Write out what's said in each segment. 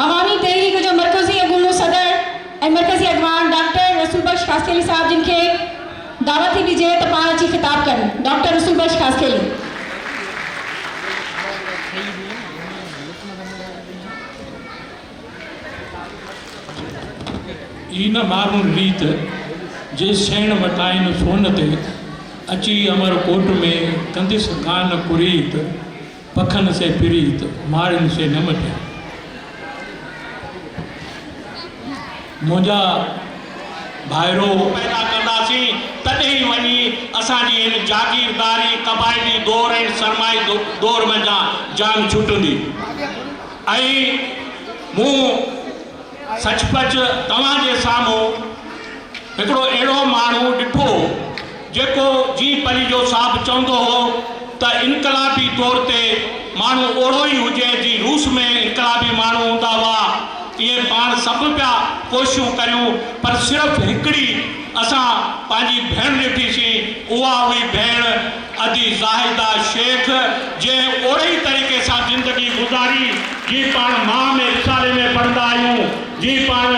عوامي تحريڪ جو مرڪزي اڳوڻو صدر ۽ مرڪزي اڳواڻ ڊاڪٽر رسول بخش خاصخيلي صاحب جن کي دعوت ٿي ڏجي ته پاڻ اچي خطاب ڪن ڊاڪٽر رسول بخش خاصخيلي. اي نه مارون ريت، جي سيڻ وٽائين سون تي، اچي امر ڪوٽ ۾، ڪنديس ڪانه ڪريت. پکن سين پريت، ماڙهين سين نه مٽيا. منهنجا ڀائرو! پيدا ڪنداسين، تڏهن وڃي اسان جي هن جاگيرداري، قبائلي دور ۽ سرمائي دور منجهان جان ڇٽندي ۽ مون سچ پچ توهان جي سامهون هڪڙو اهڙو ماڻهو ڏٺو جيڪو جي پليجو صاحب چوندو هو ته انقلابي طور تي ماڻهو اوڙو ئي هجي جي روس ۾ انقلابي ماڻهو هوندا هئا ائين پاڻ سڀ پيا ڪوششون ڪريون پر صرف هڪڙي اسان پنهنجي ڀيڻ ڏٺيسين اها هئي ڀيڻ ادي زاهده شيخ جنهن اهڙي طريقي سان زندگي گذاري جي پاڻ ماء ۾ رسالي ۾ پڙهندا آهيون جي پاڻ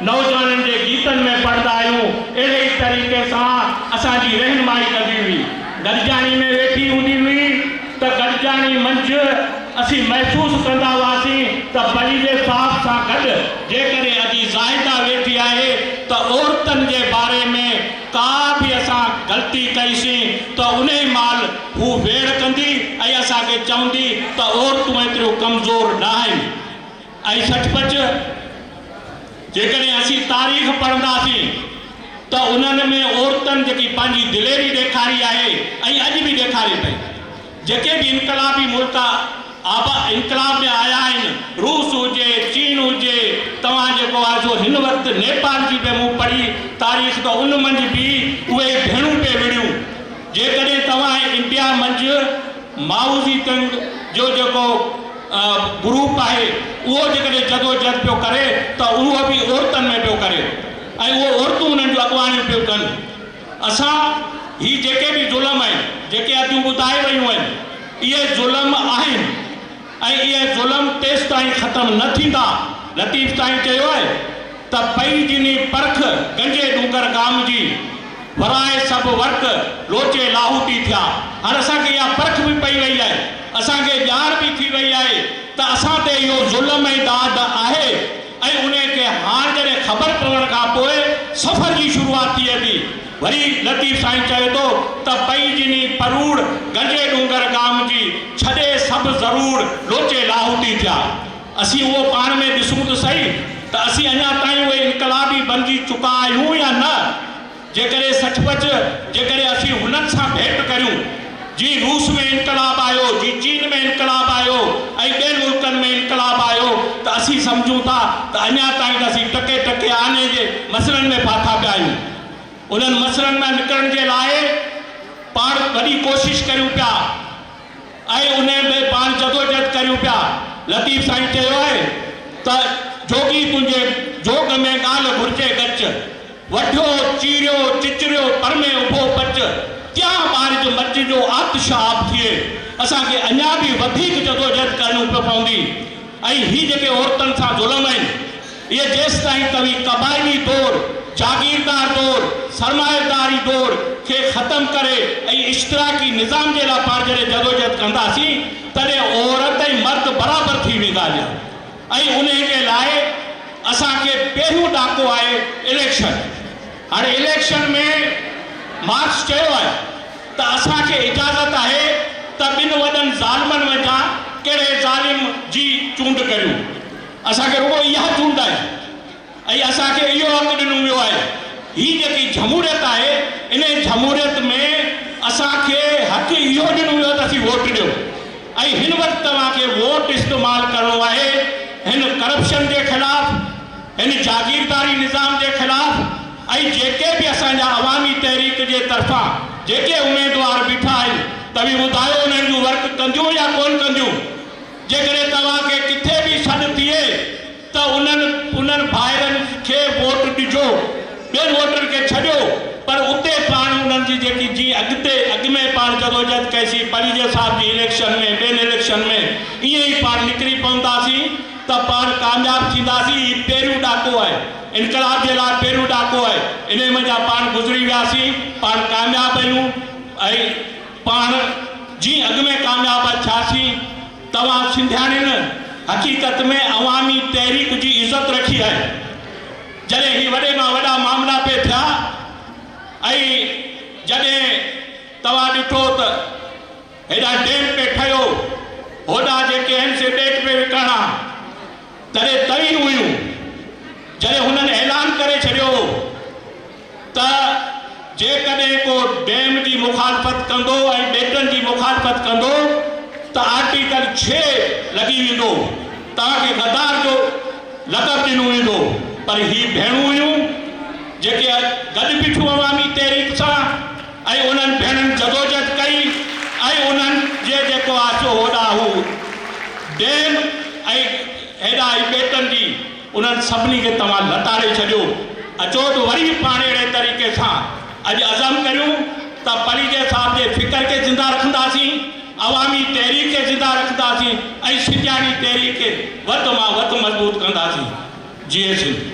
نوجوانن جي گيتن ۾ پڙهندا آهيون اهڙي ئي طريقي سان اسان جي رهنمائي ڪندي هئي گڏجاڻي ۾ ويٺي هوندي هئي ته گڏجاڻي منجھ اسين محسوس ڪندا هئاسين ته پنهنجي صاحب سان گڏ جيڪڏهن ادي زاهده ويٺي آهي ته عورتن جي باري ۾ ڪا به اسان غلطي ڪئيسين ته انهي مهل هو ويڙهه ڪندي ۽ اسان کي چوندي ته عورتون ايتريون ڪمزور نه آهن ۽ سچ پچ جيڪڏهن اسين تاريخ پڙهنداسين ته انهن ۾ عورتن جيڪي پنهنجي دليري ڏيکاري آهي ۽ اڄ به ڏيکاري پئي جيڪي به انقلابي ملڪ آبا انقلاب ۾ آيا آهن، روس هجي، چين هجي، توهان جيڪو آهي سو هن وقت نيپال جي به مون پڙهي تاريخ ته ان منجهه به اهي ئي ڀيڻون پئي وڙهيون. جيڪڏهن توهان انڊيا منجهه مائوزي تنگ جو جيڪو گروپ آهي اهو جيڪڏهن جدوجهد پيو ڪري ته اهو به عورتن ۾ پيو ڪري ۽ اهو عورتون انهن جون اڳواڻيون پيون ڪن. اسان هي جيڪي به ظلم آهن، جيڪي حدون ٻڌائي ويون آهن، اهي ظلم آهن ۽ اهي ظلم تيستائين ختم نه ٿيندا، لطيف سائين چيو آهي ته پئي جني پرک گنجي ڏونگر گام جي، ورائي سڀ ورق لوچي لاهوتي ٿيا. هاڻ اسان کي اها پرک به پئي وئي آهي، اسان کي ڄاڻ به ٿي وئي آهي ته اسان تي اهو ظلم ۽ ڏاڍ آهي. ۽ انهيء کي هاڻ جڏهن خبر پوڻ کان پوء سفر جي شروعاتيء ۾ وري لطيف سائين چوي ٿو ته پئي جني پروڙ گنجي ڏونگر ڳام جي ڇڏي سڀ زروڙ لوچي لاهوتي ٿيا اسين اهو پاڻ ۾ ڏسون ته سهي ته اسين اڃا تائين اهي انقلابي بنجي چڪا آهيون يا نه؟ جيڪڏهن سچ پچ جيڪڏهن اسين هنن سان ڀيٽ ڪريون، جي روس ۾ انقلاب آيو، جي چين ۾ انقلاب آيو ۽ ٻين ملڪن ۾ انقلاب آيو ته اسين سمجهون ٿا ته اڃا تائين ته اسين ٽڪي ٽڪي آني جي مسرن ۾ ڦاٿا پيا آهيون. انهن مسرن مان نڪرڻ جي لاء پاڻ وڏي ڪوشش ڪريون پيا. ۽ انهيء ۾ پاڻ جدوجهد ڪريون پيا. لطيف سائين چيو آهي ته، جوڳي تنهنجي جوڳ ۾ ڳالهه گهرجي ڳچ. وڍيو، چيريو، چچريو، پر ۾ اڀو پچ، تيان ٻارج مچ جو آتش آب ٿئي. اسان کي اڃا به وڌيڪ جدوجهد ڪرڻيون پوندي ۽ هي جيڪي عورتن سان ظلم آهن، اهي جيستائين توهين قبائلي دور، جاگيردار دور، سرمائيداري دور کي ختم ڪري ۽ اشتراڪي نظام جي لاء پاڻ جڏهن جدوجهد ڪنداسين تڏهن عورت ۽ مرد برابر ٿي ويندا جا ۽ انهي جي لاء اسان کي پهريون ڏاڪو آهي اليڪشن هاڻي اليڪشن ۾ مارڪس چيو آهي ته اسان کي اجازت آهي ته ٻن وڏن ظالمن منجهان ڪهڙي ظالم جي چونڊ ڪريون. اسان کي رڳو اها چونڊ آهي ۽ اسان کي اهو حق ڏنو ويو آهي. هي جيڪي جھموريت آهي، انهي جھموريت ۾ اسان کي حق اهو ڏنو ويو ته اسين ووٽ ڏيو ۽ هن وقت توهان کي ووٽ استعمال ڪرڻو آهي هن ڪرپشن جي خلاف، هن جاگيرداري نظام جي خلاف ۽ جيڪي به اسان جا عوامي تحريڪ جي طرفان جيڪي اميدوار بيٺا آهن، توهين ٻڌايو انهن جون ورڪ ڪنديون يا ڪونه ڪنديون؟ جيڪڏهن توهان کي ڪٿي به سڏ ٿئي ته انهن انهن ڀائرن کي ووٽ ڏجو، ٻين ووٽرن کي ڇڏيو پر اتي پاڻ انهن جي جيڪي جي اڳتي اڳ ۾ پاڻ جدوجهد ڪئسي پريجي صاحب جي اليڪشن ۾ ٻين اليڪشن ۾ ائين ئي پاڻ نڪري پونداسين ته پاڻ ڪامياب ٿينداسين هي پهريون ڏاڪو آهي انقلاب جي لاء پهريون ڏاڪو آهي انهي منجهان پاڻ گذري وياسين پاڻ ڪامياب آهيون ۽ پاڻ جي اڳ ۾ ڪامياب ٿياسين توهان سنڌياڻين حقيقت ۾ عوامي تحريڪ جي عزت رکي آهي جڏهن هي وڏي مان وڏا معاملا پئي ٿيا ۽ جڏهن توهان ڏٺو ته هيڏانهن ڊيم پئي ٺهيو هوڏانهن جيڪي آهن سي ٻيٽ پئي وڪڻڻ ها تڏهن توهين هيون جڏهن هنن اعلان ڪري ڇڏيو هو. ته جيڪڏهن ڪو ڊيم جي مخالفت ڪندو ۽ ٻيٽن جي مخالفت ڪندو ته آرٽيڪل ڇهه لڳي ويندو، توهان کي غدار جو لقب ڏنو ويندو، پر هي ڀيڻون هيون جيڪي گڏ بيٺيون عوامي تحريڪ سان ۽ انهن ڀيڻن جدوجهد ڪئي ۽ انهن جي جيڪو آسو هوڏانهن هو ڊيم ۽ هيڏانهن هي ٻيٽن جي انهن سڀني کي توهان لتاڙي ڇڏيو اچو ته وري به پاڻ اهڙي طريقي سان اڄ عزم ڪريون ته پليجي صاحب جي فڪر کي زنده رکنداسين، عوامي تحريڪ کي زنده رکنداسين ۽ سڄاڻي تحريڪ کي وڌ مان وڌ مضبوط ڪنداسين. جيئي سنڌ!